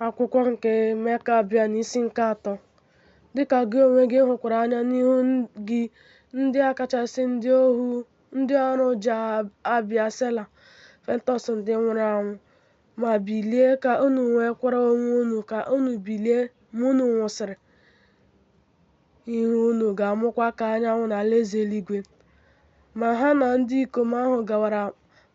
akwụkwọ nke Mekabịan isi nke atọ dịka gị onwe gị hụkwara anya n'ihu gị ndị a kachasị ndị ohu ndị ọrụ Jah Abia Sela Fentọs ndị nwụrụ anwụ ma bilie ka unu nwekwara onwe unu ka unu bilie ma unu nwụsịrị ihu unu ga-amụkwa ka anyanwụ n'alaeze eluigwe ma ha na ndị ikom ahụ gawara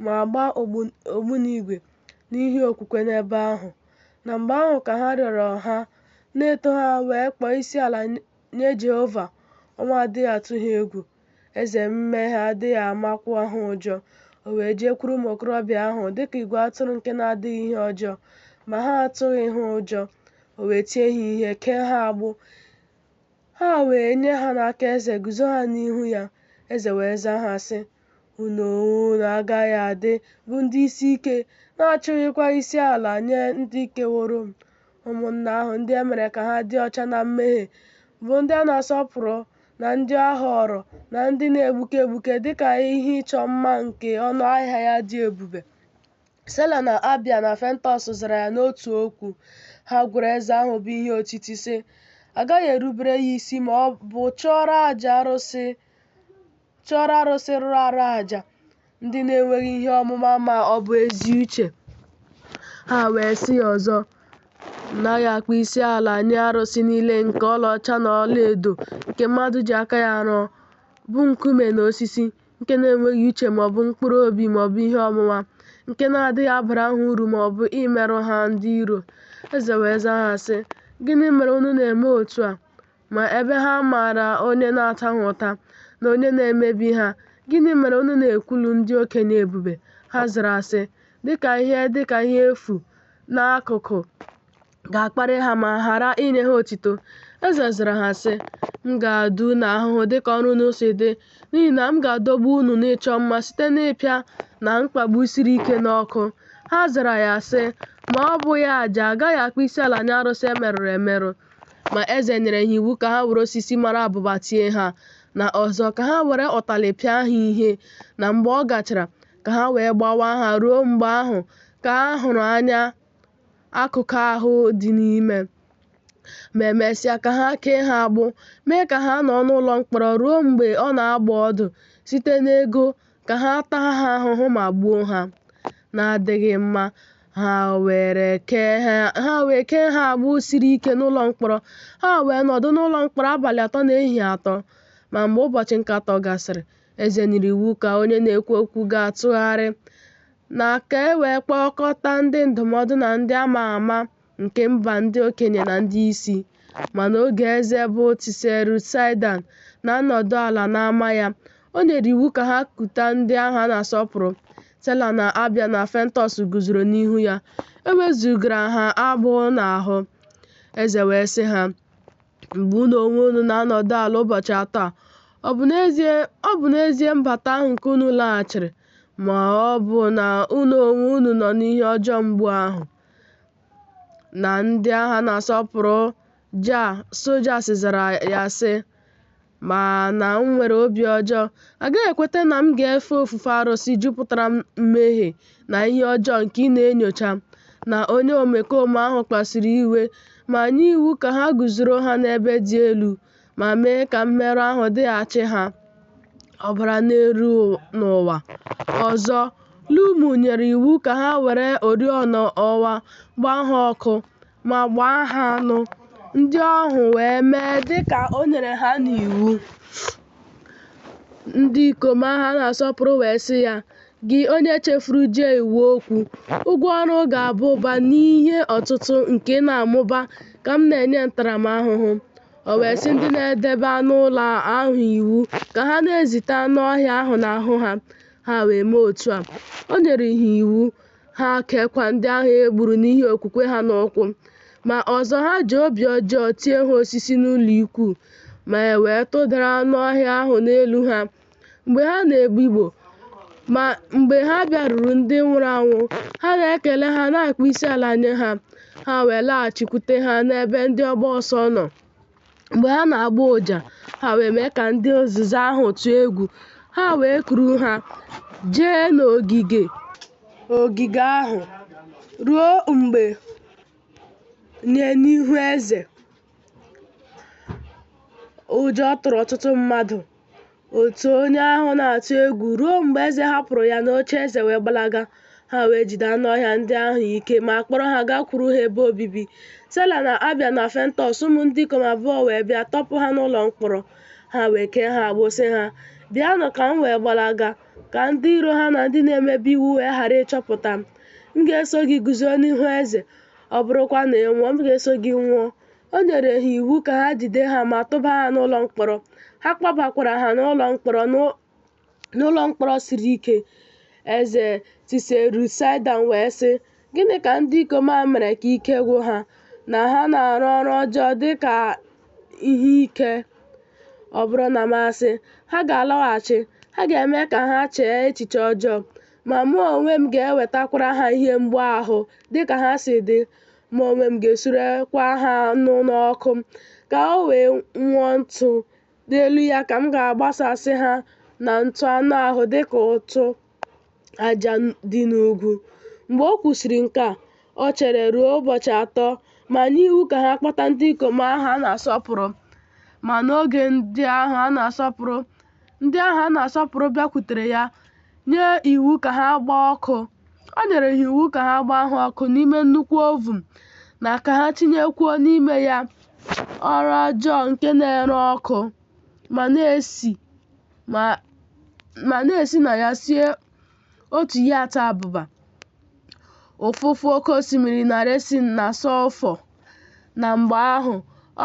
ma gbaa ogbunigwe n'ihi okwukwe n'ebe ahụ. Na mgbe ahụ ka ha rịọrọ ha, na-eto ha wee kpọọ isi ala nye Jehova, ọnwụ adịghị atụ ha egwu. Eze mmehie adịghị amakwa ha ụjọ. O wee jekwuru ụmụ okorobịa ahụ dịka igwe atụrụ nke na-adịghị ihe ọjọọ, ma ha atụghị ha ụjọ. O wee tie ha ihe, kee ha agbụ. Ha wee nye ha n'aka eze, guzo ha n'ihu ya. Eze wee zaa ha sị, Unu onwe unu agaghị adị bụ ndị isi ike, na-achụghịkwa isi ala nye ndị keworo m. Ụmụnna ahụ ndị e mere ka ha dị ọcha na mmehie, bụ ndị a na-asọpụrụ na ndị a họọrọ na ndị na-egbuke egbuke dị ka ihe ịchọ mma nke ọnụ ahịa ya dị ebube. Sela na Abia na Fentọs zara ya n'otu okwu. Ha gwara eze ahụ bụ ihe otiti, sị, A gaghị erubere ya isi ma ọ bụ chụọrọ aja arụsị chụọrọ arụsị rụrụ arụ aja ndị na-enweghị ihe ọmụma ma ọ bụ ezi uche ha wee sị ya ọzọ naghị akpọ isi ala nye arụsị niile nke ọlaọcha na ọlaedo nke mmadụ ji aka ya rụọ bụ nkume na osisi nke na-enweghị uche ma ọ bụ mkpụrụ obi ma ọ bụ ihe ọmụma nke na-adịghị abara ha uru ma ọ bụ imerụ ha ndị iro eze wee zaa ha sị gịnị mere unu na-eme otu a Ma ebe ha maara onye na-ata ha ụta na onye na-emebi ha, gịnị mere unu na-ekwulu ndị okenye ebube? Ha zara sị, Dịka ihe dịka ihe efu n'akụkụ ga-akparị ha ma ghara inye ha otito. Eze zara ha sị, M ga-ata unu ahụhụ dịka ọrụ unu si dị, n'ihi na m ga-adọgbu unu n'ịchọ mma site n'ịpịa na mkpagbu siri ike n'ọkụ. Ha zara ya sị, Ma ọ bụghị aja, a gaghị akpọ isiala nye arụsị e merụrụ emerụ. Ma eze nyere ha iwu ka ha were osisi mara abụba tie ha, na ọzọ ka ha were ụtalị pịa ha ihe, na mgbe ọ gachara, ka ha wee gbawaa ha ruo mgbe ahụ ka ha hụrụ anya akụkụ ahụ dị n'ime. Ma emesịa ka ha kee ha agbụ, mee ka ha nọ n'ụlọ mkpọrọ ruo mgbe ọ na-agba ọdụ site n'ego ka ha taa ha ahụhụ ma gbuo ha na-adịghị mma ha wee kee ha agbụ siri ike n'ụlọ mkpọrọ ha wee nọdụ n'ụlọ mkpọrọ abalị atọ na ehihie atọ ma mgbe ụbọchị nke atọ gasịrị eze nyere iwu ka onye na-ekwu okwu ga-atụgharị na ka e wee kpọkọta ndị ndụmọdụ na ndị ama ama nke mba ndị okenye na ndị isi, ma n'oge eze bụ Tiseru Saidan na-anọdụ ala n'ama ya, o nyere iwu ka ha kuta ndị ahụ a na-asọpụrụ. Sela na Abia na Fentọs guzoro n'ihu ya, e wezugara ha agbụ n'ahụ. Eze wee sị ha, Mgbe unu onwe unu na-anọdụ ala ụbọchị atọ a, ọ bụ n'ezie mbata ahụ nke unu laghachiri, ma ọ bụ na unu onwe unu nọ n'ihe ọjọọ mgbu ahụ? na ndị agha na-asọpụrụ Jah Sojas zara ya sị, Ma na m nwere obi ọjọọ, a gaghị ekweta na m ga-efe ofufe arụsị jupụtara mmehie na ihe ọjọọ nke ị na-enyocha, na onye omekome ahụ kpasuru iwe ma nye iwu ka ha guzoro ha n'ebe dị elu. ma mee ka mmerụ ahụ dịghachi ha ọbara na-eru n'ụwa. Ọzọ, Lumu nyere iwu ka ha were oriọna ọwa gbaa ha ọkụ ma gbaa ha anụ, ndị ahụ wee mee dị ka o nyere ha n'iwu. Ndị ikom ahụ a na-asọpụrụ wee sị ya, Gị onye chefuru Jah iwu okwu, ụgwọ ọrụ ga-aba ụba n'ihe ọtụtụ nke ị na-amụba ka m na-enye ntaramahụhụ. O wee sị ndị na-edebe anụ ụlọ ahụ iwu ka ha na-ezite anụ ọhịa ahụ n'ahụ ha, ha wee mee otu a. O nyere ha iwu, ha keekwa ndị ahụ e gburu n'ihi okwukwe ha n'ụkwụ. Ma ọzọ ha ji obi ọjọọ tie ha osisi n'ụlọikwuu, ma e wee tụdara anụ ọhịa ahụ n'elu ha. mgbe ha na-ebigbọ ma mgbe ha bịaruru ndị nwụrụ anwụ ha na-ekele ha na-akpọ isi ala nye ha ha wee laghachikwute ha n'ebe ndị ọgba ọsọ nọ mgbe ha na-agba ụja ha wee mee ka ndị ozizi ahụ tụọ egwu ha wee kuru ha jee n'ogige ogige ahụ ruo mgbe nye n'ihu eze ụjọ tụrụ ọtụtụ mmadụ Otu onye ahụ na-atụ egwu ruo mgbe eze hapụrụ ya n'oche eze wee gbalaga. Ha wee jide anụ ọhịa ndị ahụ ike ma kpọrọ ha gakwuru ha ebe obibi. Sela na Abia na Fentọs ụmụ ndị ikom abụọ wee bịa tọpụ ha n'ụlọ mkpọrọ. Ha wee kee ha agbụ sị ha, Bịanụ ka m wee gbalaga, ka ndị iro ha na ndị na-emebi iwu wee ghara ịchọpụta m. M ga-eso gị guzo n'ihu eze, ọ bụrụkwa na ị nwụọ, m ga-eso gị nwụọ. O nyere ha iwu ka ha jide ha ma tụba ha n'ụlọ mkpọrọ. Ha kpọbakwara ha na mkpọrọ n'ụlọ mkpọrọ siri ike. Eze Tiserusaịdan wee sị, Gịnị ka ndị ikom a mere ka ike gwụ ha, na ha na-arụ ọrụ ọjọọ dị ka ihe ike? Ọ bụrụ na m asị, Ha ga-alọghachi, ha ga-eme ka ha chee echiche ọjọọ, ma mụ onwe m ga-ewetakwara ha ihe mgbu ahụ dị ka ha si dị. mụ onwe m ga-esurekwa ha anụ n'ọkụ ka o wee nwụọ ntụ n'elu ya ka m ga-agbasasị ha na ntụ anụ ahụ dị ka ụtụ aja dị n'ugwu mgbe o kwusịrị nke a o chere ruo ụbọchị atọ ma nye iwu ka ha kpọta ndị ikom ahụ a na-asọpụrụ ma n'oge ndị ahụ a na-asọpụrụ Ndị ahụ a na-asọpụrụ bịakwutere ya nye iwu ka ha gbaa ọkụ. O nyere ha iwu ka ha gbaa ha ọkụ n'ime nnukwu ovun na ka ha tinyekwuo n'ime ya ọrụ ọjọọ nke na-ere ọkụ ma na-esi na ya sie otu yat, abụba, ụfụfụ oke osimiri na resin na sọlfọ. Na mgbe ahụ,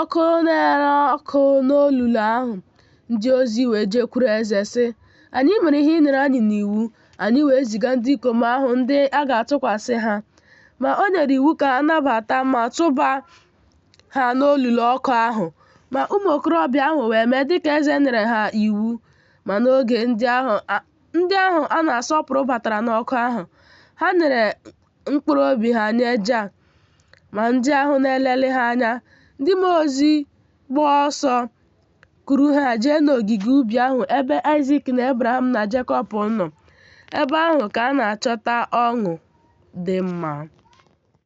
ọkụ na-ere ọkụ n'olulu ahụ. Ndị ozi wee jekwuru eze sị, Anyị mere ihe ị nyere anyị n'iwu. Anyị wee ziga ndị ikom ahụ ndị a ga-atụkwasị ha. Ma o nyere iwu ka a nabata ma tụba ha n'olulu ọkụ ahụ. Ma ụmụ okorobịa ahụ wee mee dịka eze nyere ha iwu. Ma n'oge ndị ahụ ndị ahụ a na-asọpụrụ batara n'ọkụ ahụ, ha nyere mkpụrụ obi ha nye Jah, ma ndị ahụ na-elelị ha anya, ndị mmụọ ozi, gbaa ọsọ kuru ha jee n'ogige ubi ahụ ebe Aịzik na Ebraham na Jekọb nọ. Ebe ahụ ka a na-achọta ọṅụ dị mma.